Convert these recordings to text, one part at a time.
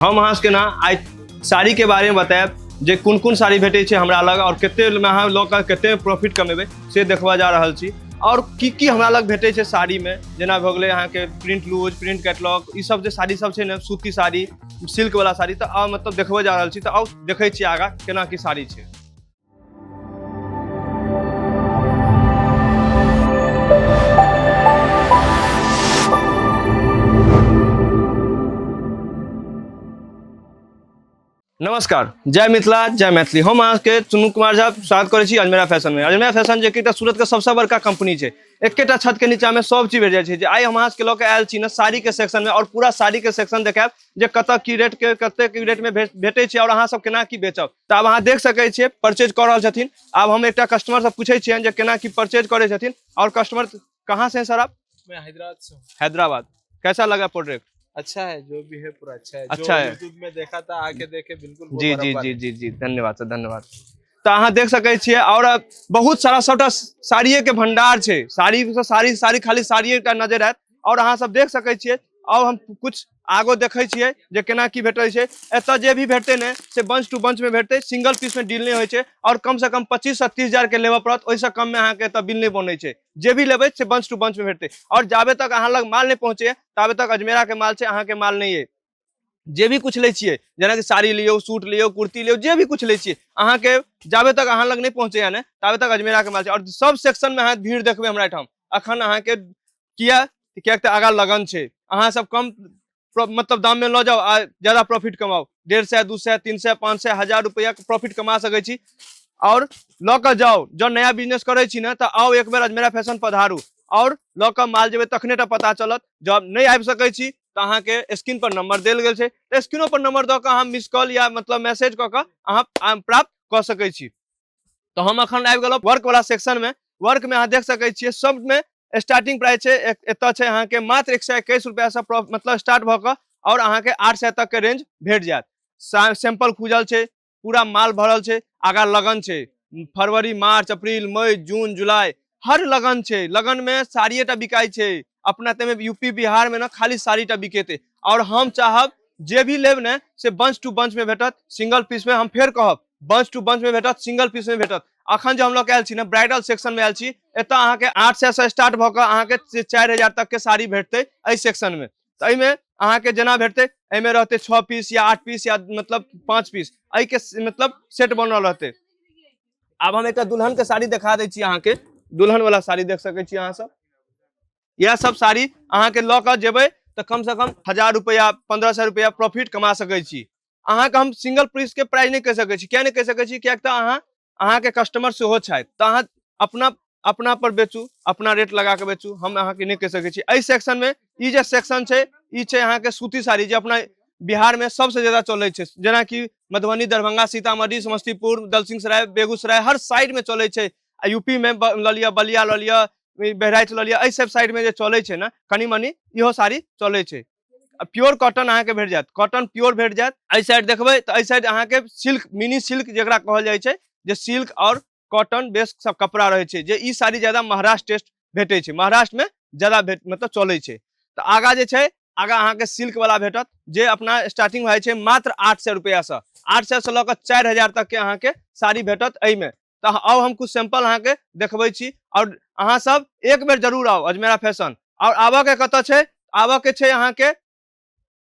हम अहाँ सबके ना आइ साड़ी के बारे में बतायब जे कोन कोन साड़ी भेटै छै हमरा लग और कते में अहाँ लऽ कऽ कते प्रॉफिट कमेबै से देखबा जा रहल छी और की की हमरा लग भेटै छै साड़ी में जेना भऽ गेलै अहाँके प्रिंट लूज प्रिंट कैटलॉग ई सब जे साड़ी सब छै ने सूती साड़ी सिल्क वाला साड़ी तऽ आ मतलब देखबऽ जा रहल छी तऽ आउ देखै छी आगाँ केना की साड़ी छै नमस्कार जय मिथिला जय मैथिली हम अहाँके चुनू कुमार झा स्वागत करै छी अजमेरा फैशन में अजमेरा फैशन जे एकटा सूरत के सबसे बड़का कंपनी छै एकेटा छत के नीचा में सब चीज भेट जाइ छै जे आइ हम अहाँके लऽ के आयल छी ने साड़ी के सेक्शन में और पूरा साड़ी के सेक्शन देखायब जे कतऽ की रेट के कते की रेट में भेट- भेटै छै और अहाँ सब केना की बेचब तऽ आब अहाँ देख सकै छियै परचेज कऽ रहल छथिन आब हम एकटा कस्टमर से पूछै छियनि जे केना की परचेज करै छथिन और कस्टमर कहाँ से हैं सर आप मैं हैदराबाद से हूँ हैदराबाद कैसा लगा प्रोडक्ट अच्छा है जो भी है पूरा अच्छा है अच्छा जो है। यूट्यूब में देखा था आके देखे बिल्कुल वो जी जी बराबर जी है। जी जी धन्यवाद सर धन्यवाद तऽ अहाँ देख सकै छियै आओर बहुत सारा सभटा साड़िये के भंडार छै साड़ी से साड़ी साड़ी खाली साड़िये टा नजर आयत आओर अहाँ सब देख सकै छियै आओर हम कुछ आगो देखै छियै जे केना की भेटै छै एतऽ जे भी भेटतै ने से बंच टू बंच में भेटतै सिंगल पीस में डील नहीं होइ छै और कम से कम पच्चीस से तीस हजार के लेबऽ पड़त ओहिसँ कम में अहाँके एतऽ बिल नहीं बनै छै जे भी लेबै से बंच टू बंच में भेटतै और जाबे तक अहाँ लग माल नहीं पहुँचे ताबे तक अजमेरा के माल छै अहाँके माल नहीं अइ जे भी कुछ लै छियै जेनाकि साड़ी लियौ सूट लियौ कुर्ती लियौ जे भी कुछ लै छियै अहाँके जाबे तक अहाँ लग नहीं पहुँचे ने ताबे तक अजमेरा के माल छै और सब सेक्शन में अहाँ भीड़ देखबै हमरा एहिठाम अखन अहाँके किया किएक तऽ आगा लगन छै अहाँ सब कम मतलब दाम में लऽ जाओ आ ज्यादा प्रॉफिट कमाओ डेढ़ सौ दू सौ तीन सौ पाँच सौ हजार रुपया के प्रॉफिट कमा सकै छी और लऽ कऽ जाओ जब नया बिजनेस करै छी ने तऽ आओ एक बेर अजमेरा फैशन पधारू और लऽ कऽ माल जेबै तखने टा पता चलत जब नहीं आबि सकै छी तऽ अहाँके स्क्रीन पर नंबर देल गेल छै तऽ स्क्रीनो पर नंबर दऽ कऽ अहाँ मिस कॉल या मतलब मैसेज कऽ कऽ अहाँ प्राप्त कऽ सकै छी तो हम अखन आबि गेलहुँ वर्क वाला सेक्शन में वर्क में अहाँ देख सकैत छियै सब में स्टार्टिंग प्राइस छै एक- एतऽ छै अहाँके मात्र एक सए एकैस रुपैआसँ प्रो- मतलब स्टार्ट भऽ कऽ आओर अहाँके आठ सए तक के रेंज भेट जायत सा- सैंपल खुजल छै पूरा माल भरल छै आगा लगन छै फरवरी मार्च अप्रैल मई जून जुलाई हर लगन छै लगन में साड़िए टा बिकाई छै अपना तमे यूपी बिहार में ना खाली साड़ी टा बिकेते और हम चाहब जे भी लेब ने से बंच टू बंच में भेटत सिंगल पीस में हम फेर कहब बंच टू बंच में भेटत सिंगल पीस में भेटत अखन जो हम लोग आयल छी ने ब्राइडल सेक्शन में आयल छी एतऽ अहाँ के आठ सौ से स्टार्ट भऽ कऽ अहाँ के से चारि हजार तक के साड़ी भेटते एहि सेक्शन में तऽ एहिमे अहाँ के जेना भेटते एहिमे रहते छः पीस या आठ पीस या मतलब पाँच पीस एहि के स- मतलब सेट बनल रहते आब हम एकटा दुल्हन के साड़ी देखा दै छी अहाँके दुल्हन वाला साड़ी देख सकै छी अहाँ सब यह सब साड़ी अहाँके लऽ कऽ जेबै तऽ कम से कम हजार रुपया पंद्रह सौ रुपया प्रॉफिट कमा सकै छी अहाँके हम सिंगल पीस के प्राइस नहि कहि सकै छी किया नहि कहि सकै छी कियाक तऽ अहाँ अहाँके कस्टमर सेहो छथि तऽ अहाँ अपना अपना पर बेचू अपना रेट लगा के बेचू हम अहाँ के नहीं कह सके एहि सेक्शन में ई जे सेक्शन है ई छै अहाँ के सूती साड़ी जो अपना बिहार में सबसे ज्यादा चले छै जेना कि मधुबनी दरभंगा सीतामढ़ी समस्तीपुर दलसिंहसराय बेगूसराय हर साइड में चले छै आ यूपी में ब- लऽ लिअ बलिया लऽ लिअ ई बहराइच लऽ लिअ एहि सब साइड में जे चले छै ने कनी मनी इहो साड़ी चले छै आ प्योर कॉटन अहाँ के भेट जायत कॉटन प्योर भेट जायत एहि साइड देखबै तऽ एहि साइड अहाँ के सिल्क मिनी सिल्क जेकरा कहल जाइ छै जे सिल्क और कॉटन बेस सब कपड़ा रहे छै जे ई साड़ी ज्यादा महाराष्ट्र टेस्ट भेटे छै महाराष्ट्र में ज्यादा भेट मतलब चले छै तो आगा जे छै आगा अहाँ के सिल्क वाला भेटत जे अपना स्टार्टिंग भए छै मात्र आठ सौ रुपया से आठ सौ से लऽ कऽ चारि हजार तक के अहाँ के साड़ी भेटत एहि में तो आउ हम कुछ सैंपल अहाँ के देखबै छी और अहाँ सब एक बेर जरूर आउ अजमेरा फैशन और आबऽ के कतऽ छै आबऽ के छै अहाँ के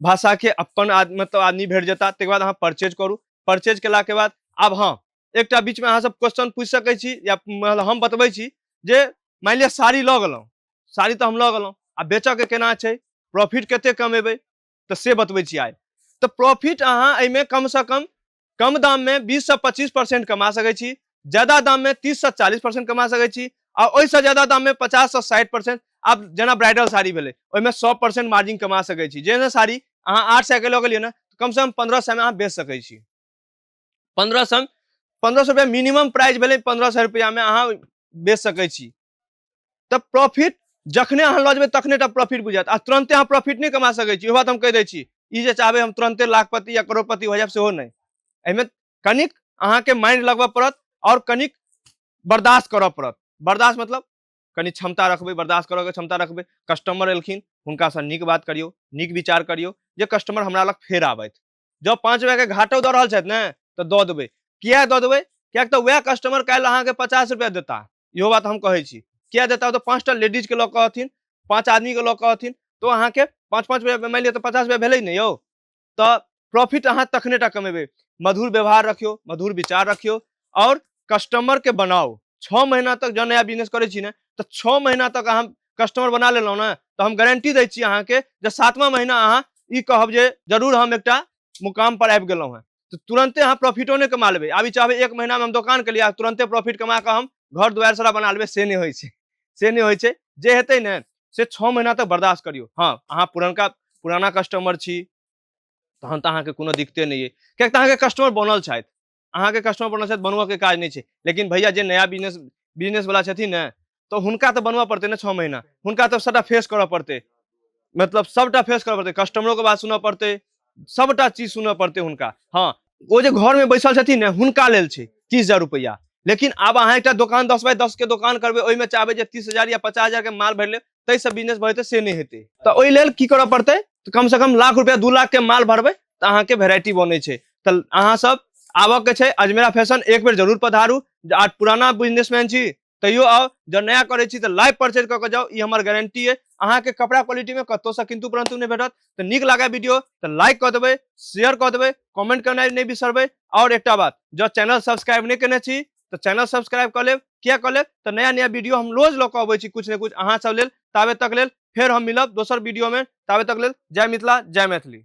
भाषा के अपन आद, मतलब आदमी भेट जेता तकर बाद अहाँ परचेज करू परचेज केला के बाद आब हाँ एकटा बीच में अहाँ सब क्वेश्चन पूछ सकै छी या मतलब हम बतबै छी जे मान लिअ साड़ी लऽ गेलहुँ साड़ी तऽ हम लऽ गेलहुँ आ बेचऽ के केना छै प्रॉफिट कते कमेबै तऽ से बतबै छी आइ तऽ प्रॉफिट अहाँ एहिमे कम से कम कम दाम में बीस से पच्चीस परसेंट कमा सके छी ज्यादा दाम में तीस से चालीस परसेंट कमा सके छी आ ओहिसँ ज्यादा दाम में पचास से साठि परसेंट आब जेना ब्राइडल साड़ी भेलै ओहिमे सौ परसेंट मार्जिन कमा सके छी जेना साड़ी अहाँ आठ सए के लऽ गेलियै ने कम से कम पंद्रह सए में अहाँ बेच सके छी पंद्रह सए पंद्रह सए रुपया मिनिमम प्राइस भेलै पंद्रह सए रुपया में अहाँ बेच सके छी तऽ प्रॉफिट जखने अहाँ लऽ जेबै तखने टा प्रॉफिट बुझायत आ तुरंते अहाँ प्रॉफिट नहि कमा सकैत छी इहो बात हम कहि दै छी ई जे चाहबै हम तुरंते लाखपति या करोड़पति हो जायब सेहो नहि एहिमे कनिक अहाँके माइंड लगबऽ पड़त आओर कनिक बर्दाश्त करऽ पड़त बर्दाश्त मतलब कनि क्षमता रखबै बर्दाश्त करऽके क्षमता रखबै कस्टमर एलखिन हुनकासँ नीक बात करियौ नीक विचार करियौ जे कस्टमर हमरा लग फेर आबथि जब पाँच रुपैआके घाटो दऽ रहल छथि ने तऽ दऽ देबै किए दऽ देबै किएक तऽ वएह कस्टमर काल्हि अहाँके पचास रुपैआ देता इहो बात हम कहै छी किए देता ओ तऽ पाँचटा लेडीजके लऽ कऽ अथिन पाँच आदमीके लऽ कऽ अथिन तऽ अहाँके पाँच पाँच रुपैआ मानि लिअ तऽ पचास रुपैआ भेलै ने यौ तऽ प्रॉफिट अहाँ तखने टा कमेबै मधुर व्यवहार रखियौ मधुर विचार रखियौ और कस्टमर के बनाओ छः महीना तक जब नया बिजनेस करे ना तो छः महीना तक अहाँ कस्टमर बना लेलहुँ ना तो हम गारंटी दै छी अहाँके जे सातवां महीना अहाँ ई कहब जे जरूर हम एक मुकाम पर आबि गेलहुँ हैं तो तुरंते अहाँ प्रॉफिटो नहीं कमा लेबै आब चाहबे एक महीना में हम दोकान के लिए तुरंते प्रॉफिट कमा के हम घर दुआर सारा बना लेबै से नहीं हो से नहीं हो जे हेतै ने से छः महीना तक बर्दाश्त करियो हाँ अहाँ पुरनका पुराना कस्टमर छी तहन तो अहाँके कोनो दिक्कते नहीं है क्या तो अहाँके कस्टमर बनल छथि अहाँके कस्टमर बनल छथि बनबऽके काज नहि छै लेकिन भैया जे नया बिजनेस बिजनेस वाला छथिन ने तऽ हुनका तऽ बनबऽ पड़तै ने छओ महीना हुनका तऽ सभटा फेस करऽ पड़तै मतलब सभटा फेस करऽ पड़तै कस्टमरोके बात सुनऽ पड़तै सभटा चीज सुनऽ पड़तै हुनका हँ ओ जे घरमे बैसल छथिन ने हुनका लेल छै तीस हजार रुपैआ लेकिन आब अहाँ एकटा दोकान दस बाय दसके दोकान करबै ओहिमे चाहबै जे तीस हजार या पचास हजारके माल भरि लेब ताहिसँ बिजनेस बढ़ेतै से नहि हेतै तऽ ओहि लेल की करऽ पड़तै तऽ कमसँ कम लाख रुपैआ दू लाखके माल भरबै तऽ अहाँके वेराइटी बनै छै तऽ अहाँसभ आबऽके छै अजमेरा फैशन एक बेर जरूर पधारू आ पुराना बिजनेसमैन छी तैयो आउ जब नया करै छी तऽ लाइव परचेज कऽ कऽ जाउ ई हमर गारंटी अइ अहाँके कपड़ा क्वालिटीमे कतहुसँ किन्तु परन्तु नहि भेटत तऽ नीक लागै वीडियो तऽ लाइक कऽ देबै शेयर कऽ देबै कमेंट करनाइ नहि बिसरबै आओर एकटा बात जँ चैनल सब्सक्राइब नहि केने छी तऽ चैनल सब्सक्राइब कऽ लेब किया कऽ लेब तऽ नया नया वीडियो हम रोज लऽ कऽ अबै छी कुछ ने कुछ अहाँ सब लेल ताबे तक लेल फेर हम मिलब दोसर वीडियो में ताबे तक लेल जय मिथिला जय मैथिली